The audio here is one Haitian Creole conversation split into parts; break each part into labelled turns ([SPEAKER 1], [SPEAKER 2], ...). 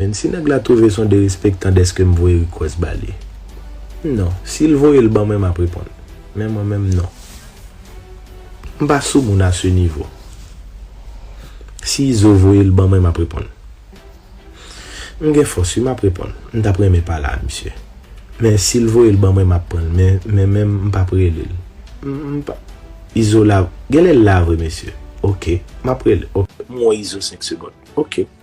[SPEAKER 1] Menn si nèg la twouve son derespektan dèskem voye request ba li non sil voyel ban mwen map reponn men mwen menm non m pa sou moun a se nivo si izo voyel ban mwen map reponn m gen fòs wi map reponn m tap renmen pale a misye men sil voyel ban mwen map pranl men mwen menm m pap relel m pa izo la genlè l la vre mesye ok map rele ok. M wè izo 5 segond ok.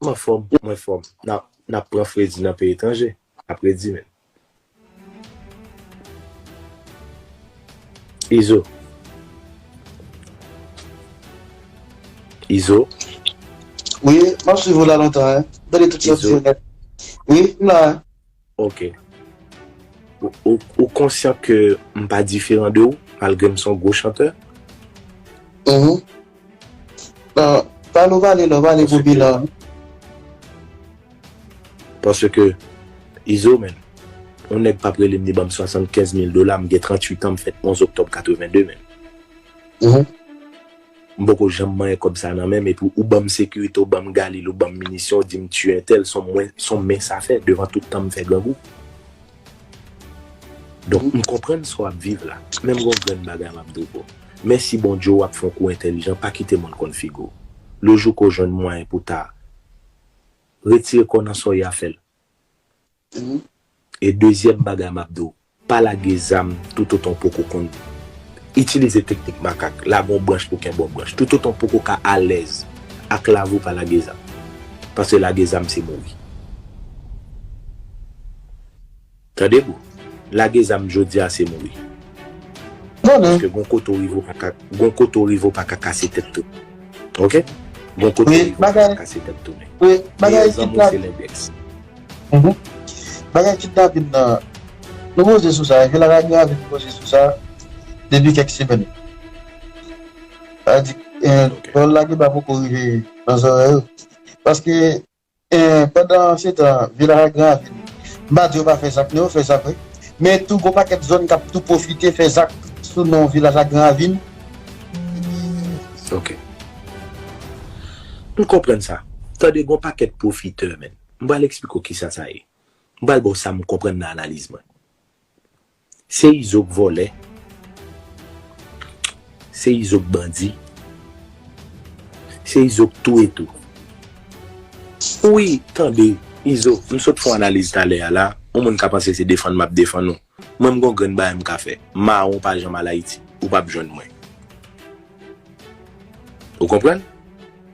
[SPEAKER 1] M anfòm, m anfòm. N ap pran fredi nan peyi etranje, apredi menm. Izo
[SPEAKER 2] Izo Wi, m ap swiv ou la lontan. Izo Wi, m la. Ok.
[SPEAKER 1] Ou konsyan ke m pa diferan de ou, malgre m se yon gwo chantè?
[SPEAKER 2] Uhmm. Pale ou pale la, ou pale pou bilan an.
[SPEAKER 1] Paske, Izo menn, yon nèg pa p rele m li ban m 75 mil dola, m gen 38 an, m fèt 11 oktòb 82 menn. Uhmm. M poko janm manyen kòb sa nan menm epi ou banm sekirite ou banm galil ou banm minisyon ou dim tiye entèl son mwen son men sa fè devan tout tanm fè grangou donk m konprann sa w ap viv la men m gon grenn bagay m ap di w bro mèsi Bondye w ap fon kou entèlijan pa kite moun konn figi w le jou ke w jwenn mwayen pou ta retire kò w nan sa w ya fè l e dezyèm bagay m ap di w Pa lage zam toutotan w poko konn itilize teknik makak, lage yon branch pou kenbe yon branch. Toutotan w poko ka alèz ak lavi w pa lage zam. Paske lage zam se mouri. Tande bro, lage zam jodi a se mouri. Paske gon kote w rive w paka, gon kote w rive w paka kase tèt tounen. Ok? Gon kote w rive w paka kase tèt tounen. Meyè
[SPEAKER 2] zanmi w se lendèks. Bagay kidnapin nan, nou koze sou sa, epi laradyo a vin koze sou sa depi kèk semèn. Adik, pawòl la genba poko rive nan zòrèy ou. Paske, pandan se tan, Villaragran a vin. M pa di yo pa fè zak non, yo fè zak wi. Men tou gon pakèt zòn k ap tou pwofite fè zak sou non Villaragran a vin. Ok. M konprann sa. Tande gon
[SPEAKER 1] pakèt pwofitè menn. M pral eksplike w kisa sa ye. M pral ba w sa m konprann nan analiz mwen. Se izo k vòlè, se izo k bandi, se izo k touye tou. Wi, tande, izo, m sot fè w analiz talè a la, yon moun ka panse se defann m ap defann ou. Mwen m gon grenn bagay m ka fè. Mawon pa janm al Ayiti. Ou pap jwenn mwen. Ou konprann?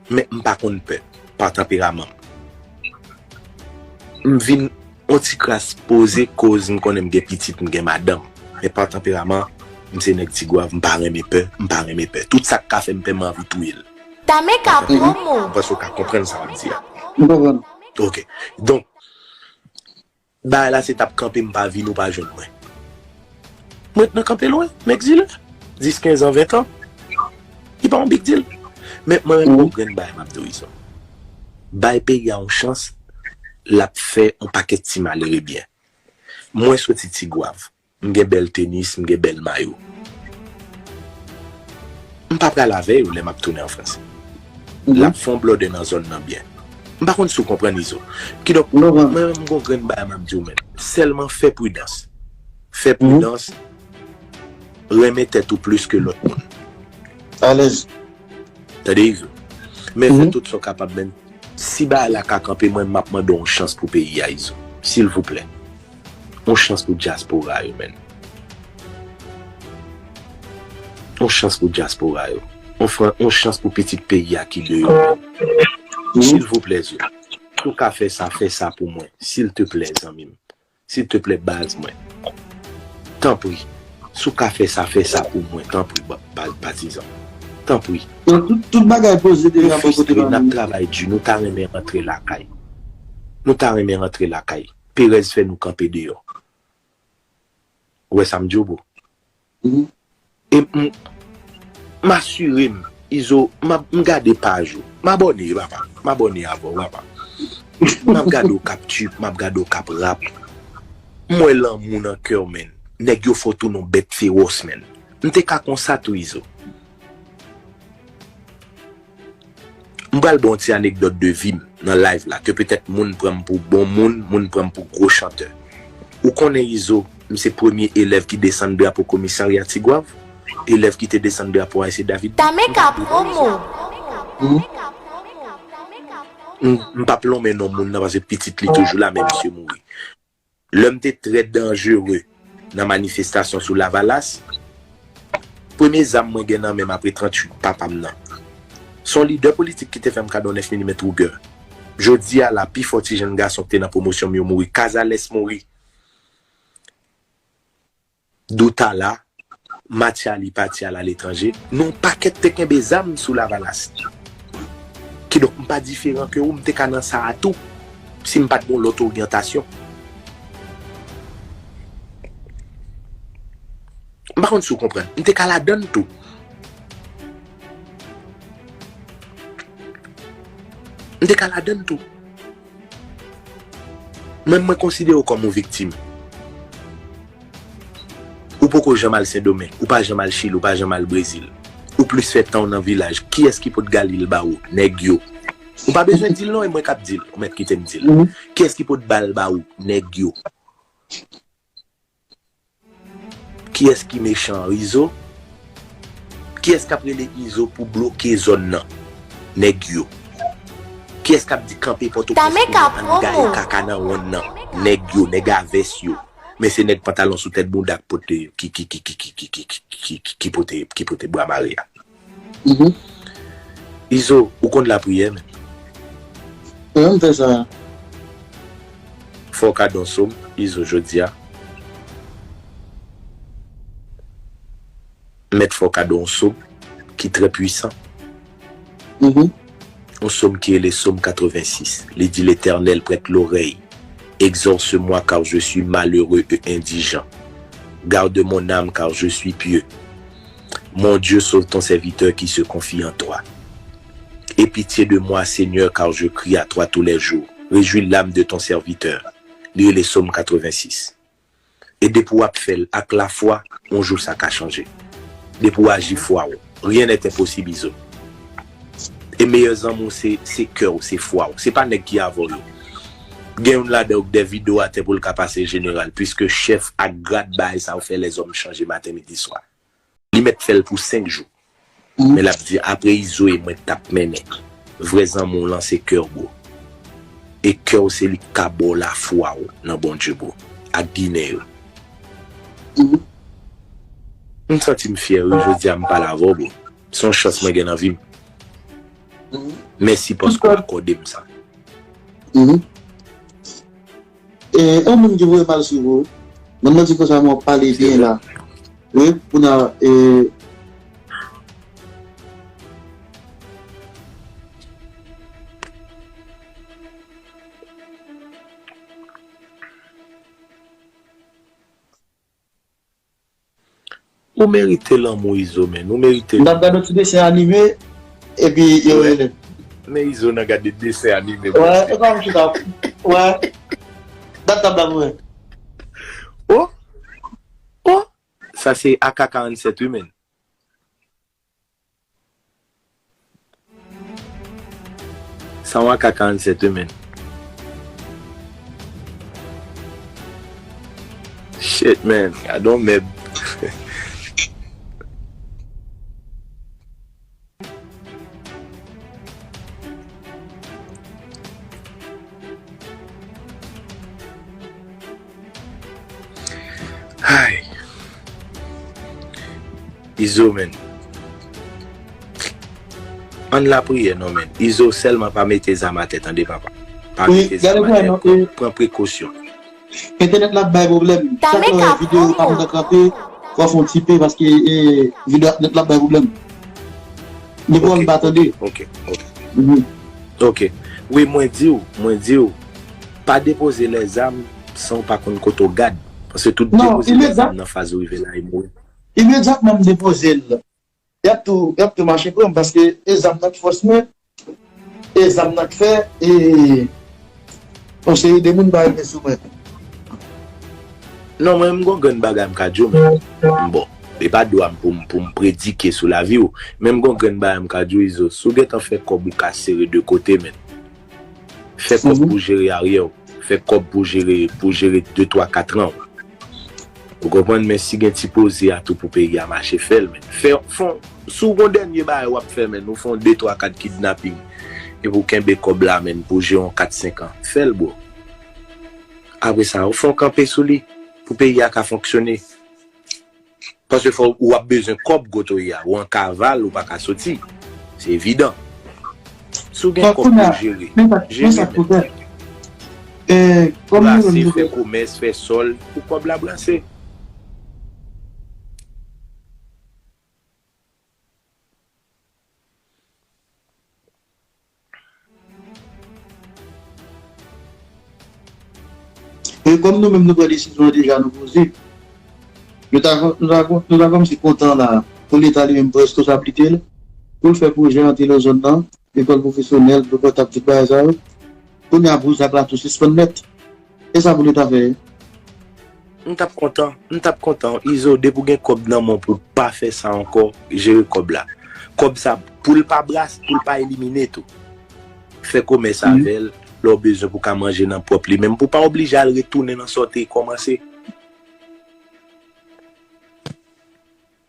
[SPEAKER 1] Men m pa konn pè. Pa tanperaman m. M vin on ti kras poze koz m konnen m gen pitit, m gen madanm. Men pa tanperaman, m se nèg Tigwav, m pa renmen pè, m pa renmen pè. Tout sa k ka fè m pè m anvi touye l. Tame ka
[SPEAKER 3] pran mo. M panse ou ka konprann sa m
[SPEAKER 1] ap di a. M konprann.
[SPEAKER 2] Ok.
[SPEAKER 1] Donk. Bagay la se tap kanpe m pa vin ou pa jwenn mwen. M ret nan kanpe lwen, m egzile. 10, 15 an, 20 an, li pa yon big deal. Men mwen renmen yon grenn bagay m ap di w Izo. Bay peyi a yon chans, l ap fè yon pakèt ti malere byen. Mwen soti Tigwav. M gen bèl tenis, m gen bèl mayo. M pa pral avè yo lè m ap tounen an Frans. L ap fè yon blòdè nan zòn nan byen. M pa konn si w konprann, Izo. Kidonk, mwen menm m gen yon grenn bagay m ap di w menm. Sèlman fè pridans. Fè pridans. Renmen tèt ou plis ke lòt moun. Alèz.
[SPEAKER 2] Tande,
[SPEAKER 1] Izo. Men fè tout sa w kapab menm. Si bagay la ka kanpe, mwen menm m ap mande w yon chans pou peyi a, Izo. Silvouplè. On chans pou dyaspora yo menn. On chans pou dyaspora yo. On chans pou pitit peyi a ki deyò menn. Silvouplè zye. Si w ka fè sa, fè sa pou mwen. Silteplè zanmi m. Silteplè baz mwen. Tanpri. Si w ka fè sa, fè sa pou mwen. Tanpri patizan. Tanpri. Tout bagay
[SPEAKER 2] poze deja bò kote pa nou. Nap travay di. Nou
[SPEAKER 1] ta renmen rantre lakay. Nou ta renmen rantre lakay. Perèz fè nou kanpe deyò. Ou wè sa m di w bro? Ou
[SPEAKER 2] e m
[SPEAKER 1] m asire m Izo m ap m gade paj ou. M abòne papa. M abòne avè w papa. M ap gade w k ap tchip, m ap gade w k ap rap. M wè lanmou nan kè w menn. Nèg yo fè w tounen w bèt fewòs menn. M te ka konsa tou Izo. M pral ba w ti anekdòt de vi m nan live la ke petèt moun pran m pou bon moun, moun pran m pou gwo chantè. Ou konnen Izo, m se premye elèv ki desann drapo komisarya Tigwav, elèv ki te desann drapo Ayse David tou. M pa p lonmen
[SPEAKER 3] non.
[SPEAKER 1] M pa p lonmen non moun nan paske pitit li toujou la men misye mouri. Lè m te trè danjere nan manifestasyon sou Lavalas, premye zam mwen gen nan men m apre 38 papa m nan, se yon lidè politik ki te fè m kado 9 milimèt Ruger. Jodi a la, pifò ti jenn gason ki te nan pwomosyon m yo mouri. Cazares mouri. Dotala, Mathiali pati al aletranje. Nou pakèt te kenbe zam sou Lavalas. Kidonk m pa diferan ke ou, m te ka nan sa a tou, si m pa t gen yon lòt oryantasyon. M pa konn si ou konprann. M te ka ladan l tou. M te ka ladan l tou. Menm mwen konsidere w kòm yon viktim. Ou poko janm al sendomeng, ou pa janm al chili, ou pa janm al brezil. Ou plis fè tan w nan vilaj. Kiyès ki pot gali l ba ou? Nèg yo. Ou pa bezwen di l non e mwen k ap di l, ou mèt kite m di l. Kiyès ki pot ba l ba ou? Nèg yo. Kiyès ki mechan izo? Kiyès kap rele izo pou bloke zòn nan? Nèg yo. Kiyès kap di kanpe pòtoprens pou nou ann gaye
[SPEAKER 3] kaka nan wonn nan?
[SPEAKER 1] Nèg yo, nèg a vès yo. Men se nèg pantalon sou tèt bounda ki pote bwa mare a. Izo ou konn lapriyè menn. Mwen
[SPEAKER 2] menm fè sa.
[SPEAKER 1] Fòw ka don som izo jodia. Mèt fòw ka don on som ki trè pwisan. On som ki rele som 86 li di letènèl prèt lorèy egzòse mwa kar je swi malere e endijan garde mon ame kar je swi pieu Mon Dieu sauve ton serviteur qui se confie en toi Aie pitié de moi Seigneur car je crie à toi tous les jours Rejouis l'âme de ton serviteur Li rele Som 86 E depi w ap fè l ak lafwa on jou sa ka chanje Depi w aji fwa w Rien n'est impossible Izo. E meyè zanmi w se se kè w se fwa w se pa nèg ki avè w yo gen youn ladan yo k dè vide w atè pou l ka pase jeneral pwiske chèf ak grad bagay sa yo fè lèzòm chanje maten midi swa li mèt fè l pou 5 jou men l ap di apre izo e mwen k tap mennen vrè zanmi w lan se kè w bro e kè w se li k ka ba w lafwa w nan Bondye bro ak ginen yo m santi m fyè wi jodi a m pale avè w bro. Son chans mwen gen nan vim. Mèsi paske w akòde m sa.
[SPEAKER 2] Yon moun ki voye mal swiv ou. Moun nan di konsa men wap pale byen la. Wi pou nan e.
[SPEAKER 1] Ou merite lanmou izo men nou merite l. Nap gad yon ti desen
[SPEAKER 2] anime epi yo relem. Men
[SPEAKER 1] izo nan gade desen anime bon
[SPEAKER 2] Dieu. Wè
[SPEAKER 1] epa m chita wè dat la blan mwen. Oh oh sa se ak 47 wi menn. San w aka 47 yo menn. Shit man gadon mèb. Ayy Izo menn Ann lapriyè non menn Izo sèlman pa mete zam atè tande papa pa mete zam atè pran prekosyon. Entènèt
[SPEAKER 2] la ap bay pwoblèm chak lè w wè video pa kontan kanpe fò w fè yon ti pe paske video entènèt la ap bay pwoblèm mikwo a m pa tande ok
[SPEAKER 1] ok ok wi mwen di w mwen di w Pa depoze lè zam san w pa konn kote w gad, paske tout depoze lè zam nan faz
[SPEAKER 2] ou
[SPEAKER 1] rive la
[SPEAKER 2] e
[SPEAKER 1] mouri. Imedyatman m
[SPEAKER 2] depoze l, y ap tou y ap tou mache pran m paske e zam nan k fòs mwen, e zam nan k fè e yon seri de moun pa rive sou mwen.
[SPEAKER 1] Non mwen m gon grenn bagay m ka di w men, bon, e pa dwa m pou m pou m predike sou lavi w, men m gon grenn bagay m ka di w Izo, si w gentan fè kòb ou ka sere de kote men. Fè kòb pou jere aryè w. Fè kòb pou jere pou jere de twa katran w. Ou konprann men si gen ti poze a tou pou peyi a mache fè l men. Fè fon si w gon dènye bagay w ap fè men ou fè yon de twa kat kidnaping epi w kenbe kòb la men pou w jere yon kat senkan. Fè l bro. Apre sa ou fè yon kanpe sou li pou peyi a ka fonksyone. Paske fò ou ap bezwen kòb kot ou ye a. Ou an kaval ou pa ka soti. Se evidan. Si w gen kòb pou w jere, jere
[SPEAKER 2] men. Brase, fè komès,
[SPEAKER 1] fè sòl pou kòb la brase.
[SPEAKER 2] E kòm nou menm nou pran desizyon an deja nou poze. Nou ta nou ta kòmsi kontan la pou leta li menm prèske sa plike l pou l fè pwojè an telozòn nan, lekòl pwofesyonèl, dlo pòtab tout bagay sa yo. Kounye a pou zak la tou sispann nèt. E sa pou li ta fè?
[SPEAKER 1] M tap kontan, m tap kontan. Izo depi ou gen kòb nan men w pou w pa fè sa ankò, jere kòb la. Kòb sa pou l pa brase, pou l pa elimine tou. Fè komès avè l lè w bezwen pou w ka manje nan pwòp li menm, pou w pa oblije al retounen nan sa w te kòmanse.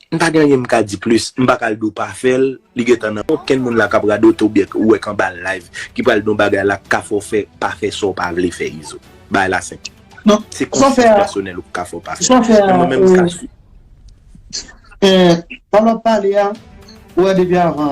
[SPEAKER 1] M pa gen anyen m ka di plis, m pa ka al di w pa fè l, li gen tan nan okenn moun la k ap radote oubyen k wè k anba live ki pral di yon bagay la k ka fè w fè pa fè sa w pa vle fè Izo. Bagay la senp. Se konsyans
[SPEAKER 2] pèsonèl
[SPEAKER 1] ou k ka fè w pa fè l. Men mwen menm m ka di.
[SPEAKER 2] Sa l ap pale a, ou wè depi avan.